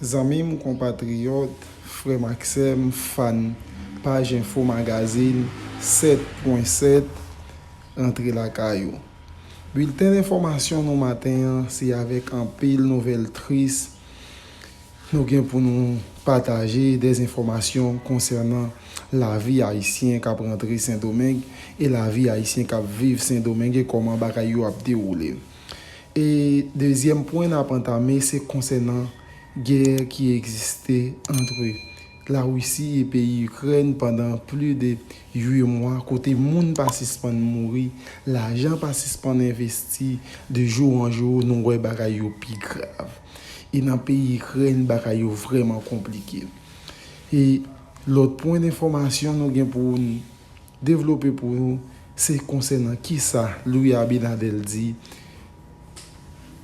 Zanmi m, konpatriyòt, frè m ak sè m, fàn paj enfo magazin 7 pwen 7, rantre lakay ou. Bilten enfòmasyon nou maten an, se avèk anpil nouvèl tris nou gen pou nou pataje dezenfòmasyon konsènan lavi ayisyen k ap rantre Sendomeng e lavi ayisyen k ap viv Sendomeng e kòman bagay yo ap dewoule. E dezyèm pwen nap antame se konsènan gè ki egziste antre la Risi e peyi Ikrèn pandan pli de 8 mwa kote moun pa sispann mouri, lajan pa sispann envesti, de jou an jou nou wè bagay yo pi grav. E nan peyi Ikrèn bagay yo vrèman konplike. E lòt pwen enfòmasyon nou gen pou. Devlope pou nou se konsènan kisa Louis Abinadel di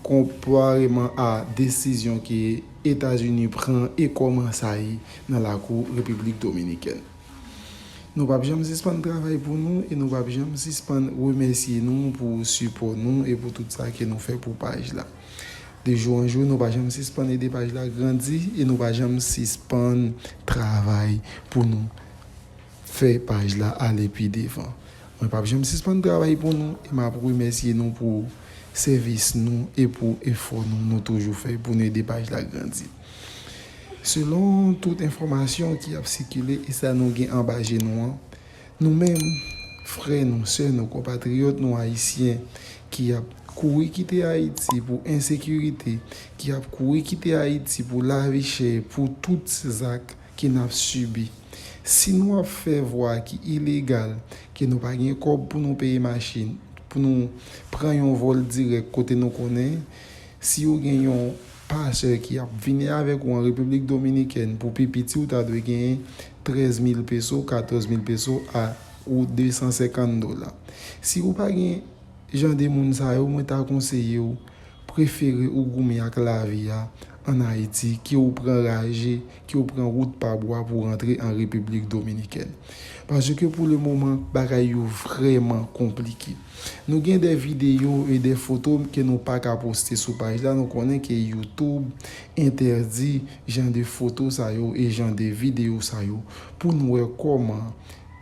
konpareman a desizyon ke Etazini pran e kòman sa ye nan lakou Repiblik Dominikèn. Nou pap janm sispann travay pou nou e nou pap janm sispann remèsye nou pou sipò nou e pou tout sa ke nou fè pou paj la. De jou an jou nou pa janm sispann ede paj la grandi e nou pa janm sispann travay pou nou. Fè paj la ale pi devan. Mwen pap janm sispann travay pou nou e map remèsye nou pou sèvis nou e pou efò nou nou toujou fè pou nou ede paj la grandi. Selon tout enfòmasyon ki ap sikile e sa nou gen anba je nou an, nou menm, frè nou, sè nou, konpatriyòt nou ayisyen ki ap kouri kite Ayiti pou ensekirite, ki ap kouri kite Ayiti pou lavi chè, pou tout zak, ke n ap sibi. Si nou ap fè vwa ki ilegal, ke nou pa gen kòb pou nou peye machin, pou nou pran yon vòl dirèk kote nou konnen si ou gen yon pasè ki ap vini avèk ou an Repiblik Dominikèn pou pi piti ou ta dwe genyen 13 mil peso, 14 mil peso a ou 250 dola. Si ou pa gen jan de moun sa yo mwen ta konseye ou. prefere ou goumen ak lavi a an Ayiti ke ou pran raje, ke ou pran wout pa bwa pou rantre an Repiblik Dominikèn. Paske pou le moman, bagay yo vrèman konplike. Nou gen de videyo e de foto ke nou pa ka poste sou paj la, nou konnen ke YouTube entèdi jan de foto sa yo e jan de videyo sa yo pou nou wè kòman,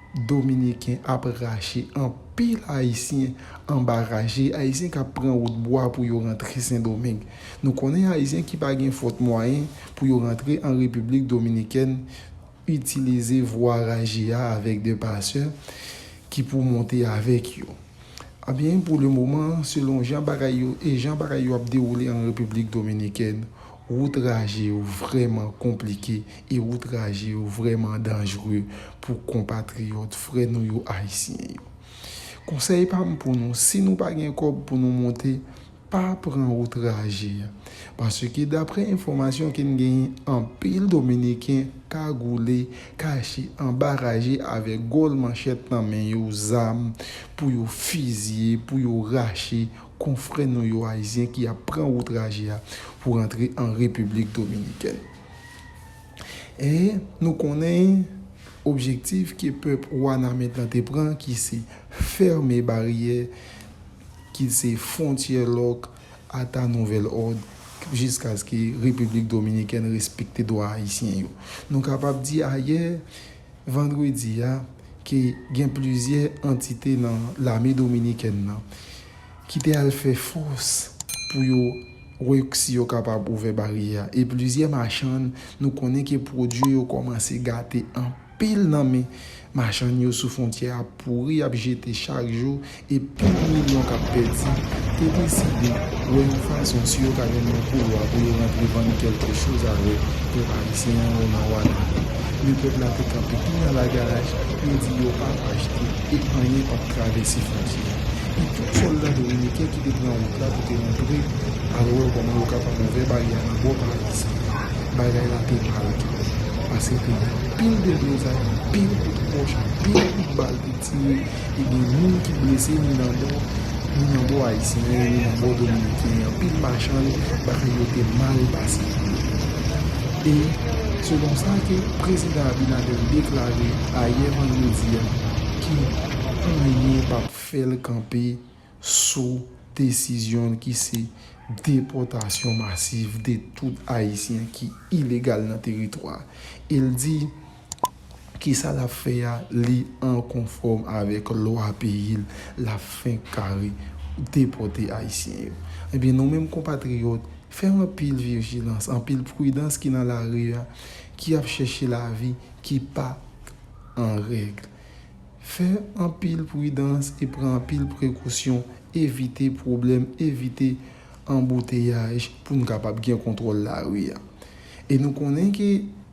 Dominiken ap rache anpil Ayisyen anba raje, Ayisyen k ap pran wout bwa pou yo rantre Sendomeng. Nou konnen Ayisyen ki pa gen fòt mwayen pou yo rantre an Repiblik Dominikèn itilize vwa raje a avèk de pasè ki pou monte avèk yo. Anben, pou le moman, selon jan bagay yo e jan bagay yo ap dewoule an Repiblik Dominikèn, Wout traje yo vrèman konplike e wout traje yo vrèman danjre pou konpatriyòt, frè nou yo Ayisyen yo. Konsèy pa m pou nou, si nou pa gen kòb pou nou monte, pa pran wout traje a. Paske daprè enfòmasyon ke n genyen, anpil Dominiken kagoule, kache anba raje avèk gòl manchèt nan men yo, zam pou yo fizye, pou yo rache, Konfrè nou yo Ayizyen ki ap pran wout raje a pou rantre an Repiblik Dominikèn. E nou konnen objektif ke pèp Wanament lan te pran ki se fèmen baryè, ki se fwontyè lòk ata nouvèl òd jiskaske Repiblik Dominikèn respekte dwa Ayisyen yo. Nou kapab di ayè, vandredi a ke gen plizyè antite nan lame dominikèn nan ki te al fè fòs pou yo wè si yo kapab ouvè baryè a e plizyè machann nou konnen ke pwodui yo kòmanse gate anpil nan men machann yo sou fwontyè a pouri ap jete chak jou e pil milyon k ap pèdi, te deside wè yon fason si yo ka jwenn yon koulwa pou yo rantre vann kèlke choz avèk pèp ayisyen an yo nan Wanament. Men pèp la te kanpe pi nan lagaraj, yo di yo p ap achte e anyen p ap travèse fwontyè a. E tout sòlda dominiken ki te pran wout la pou te antre al wè kòman yo kapab ouvè baryè a nan bò pa ayisyen yo, bagay la te mal twòp, pase te gen pil deblozay, pil kout pòch, pil kout bal te tire. Te gen moun ki blese ni nan bò ni nan bò ayisyen an e ni nan bò dominiken an. Anpil machann bagay yo te mal pase pou yo. E se konsa ke Prezidan Abinader deklare ayè vandredi a ke anyen pap fè l kanpe. sou desizyon l ki se depòtasyon masiv de tout Ayisyen ki ilegal nan teritwa a e l di ke sa l ap fè a li an konfòm avèk lwa peyi l l ap fenk kare depòte Ayisyen yo. Ebyen nou menm konpatriyòt fè anpil vijilans, anpil pridans ki nan lari a ki ap chèche lavi ki pa an règ. Fè anpil pridans e pran anpil prekosyon, evite pwoblèm, evite anbouteyaj pou n kapab gen kontwòl lari a. E nou konnen ke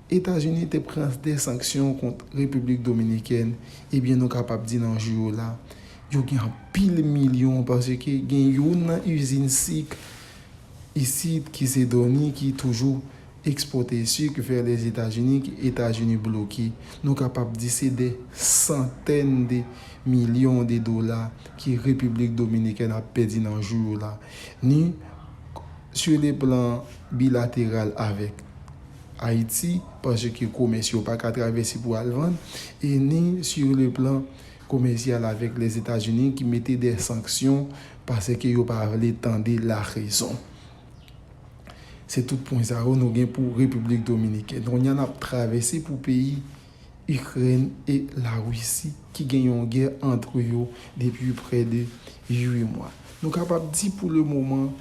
Etazini te pran de sanksyon kont Repiblik Dominikèn, ebyen nou kapab di nan jou yo la, yo gen anpil milyon paske gen youn nan izin sik isit ki se Dony ki toujou Ekspote suk vè Lèzetazini ke Etazini bloke, nou kapab di se dè santèn de milyon de dola ke Repiblik Dominikèn ap pèdi nan jou yo la, ni su le plan bilateral avèk Ayiti, paske komès yo pa ka travèse pou al vann, e ni su le plan komèsyal avèk Lèzetazini ki mete dè sanksyon paske yo pa vle tande larezon. Se tout pwen sa yo nou gen pou Repiblik Dominikèn. Kounya nap travèse pou peyi Ikrèn e Larisi ki gen yon gè antre yo depi prè de 8 mwa. Nou kapab di pou le moman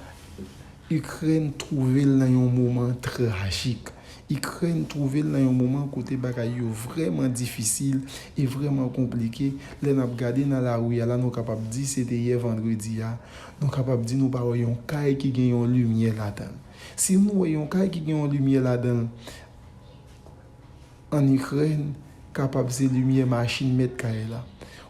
Ikrèn twouve l nan yon moman trajik. Ikrèn twouve l nan yon moman kote bagay yo vrèman difisil e vrèman konplike. Lè nap gade nan lari a la nou kapab di se te yè vandredi a Nou kapab di nou pa wè yon kay ki gen yon limyè ladan l. Si nou wè yon kay ki gen yon limyè ladan l ann Ikrèn, kapab se limyè machin mèt kay la.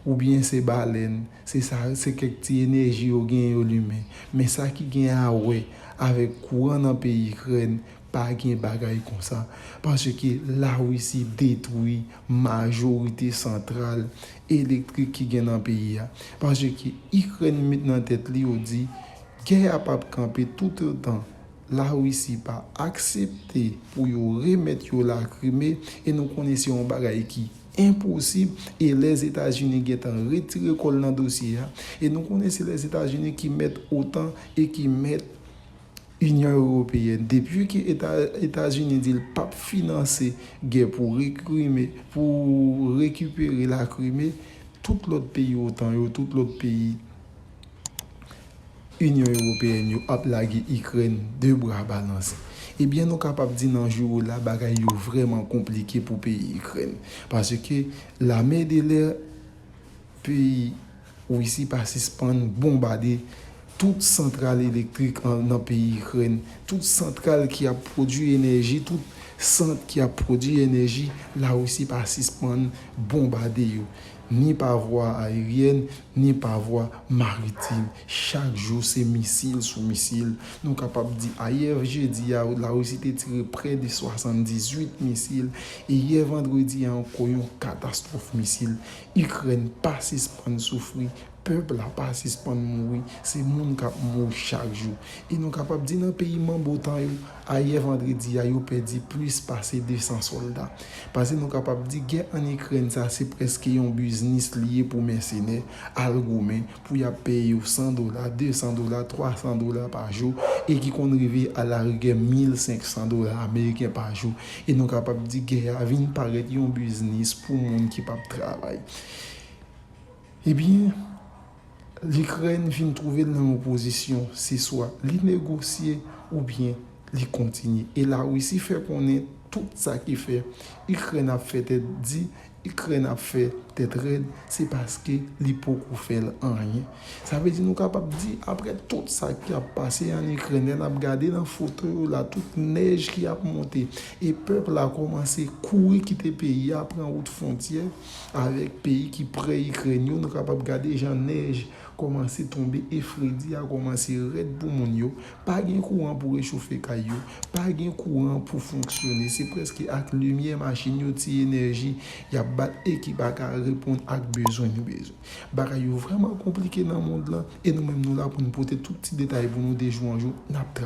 Oubyen se balèn, se sa, se kèk ti enèji yo genyen yo limen. Men sa ki gen a wè avèk kouran nan peyi Ikrèn, Pa gen bagay konsa paske la Russie detwi majorite santral elektrik ki gen nan peyi a paske Ukraine met nan tèt li yo di gè a pap kanpe toutotan la Russie pa aksepte pou yo remèt yo la Crimée e nou konnen se yon bagay ki enposib e Lèzetazini gentan retire kòl nan dosye a e nou konnen se Lèzetazini ki mèt otan e ki mèt Inyon Ewopeyèn, depi ke Etazini di l pap finanse gè pou rekrime, pou rekipere la Krime, tout lòt peyi otan yo, tout lòt peyi Inyon Ewopeyèn yo ap lage Ikrèn de bra balanse. Ebyen nou kapab di nan jou la bagay yo vrèman konplike pou peyi Ikrèn. Paske lame de lè peyi. Russie pa sispann bonbade tout santral elektrik nan peyi Ikrèn, tout santral ki ap pwodui enèji, tout sant ki ap pwodui enèji, La Russie pa sispann bonbade yo, ni pa vwa aeryèn, ni pa vwa maritim. Chak jou se misil sou misil. Nou kapab di ayè jedi a, La Russie te tire prè de 78 misil, e yè vandredi a ankò yon katastwòf misil. Ikrèn pa sispann soufri, pèp la pa sispann mouri, se moun k ap mouri chak jou. E nou kapab di nan peyi manb otan yo, ayè vandredi a, yo pèdi plis pase 200 sòlda. Pase nou kapab di gè ann Ikrèn sa se prèske yon biznis li ye pou mèsenè al goumen pou y ap peye yo 100 dola, 200 dola, 300 dola pa jou e ki konn rive alarigè 1500 dola ameriken pa jou e nou kapab di gè a vin parèt yon biznis pou moun ki p ap travay. Ebyen, Likrèn vin twouve l nan yon pozisyon se swa li negosye oubyen li kontinye e Larisi fè konnen tout sa ki fè Ikrèn ap fè tèt di Ikrèn ap fè tèt rèd se paske li poko fèl anyen. Sa vle di nou kapab di aprè tout sa ki ap pase an Ikrèn lè nap gade nan foto yo la tout nèj ki ap monte e pèp la kòmanse kouri kite peyi a pran wout fontyè avèk peyi ki prè Ikrèn yo nou kapab gade jan nèj kòmanse tonbe e fredi a kòmanse rèd pou moun yo Pa gen kouran pou rechofe kay yo, pa gen kouran pou fonksyone, se prèske ak limyè machin yo ti enèji y ap bat e ki pa ka reponn ak bezwen yo bezwen. Bagay yo vrèman konplike nan mond lan e nou menm nou la pou n pote tout ti detay pou nou de jou an jou n ap travay.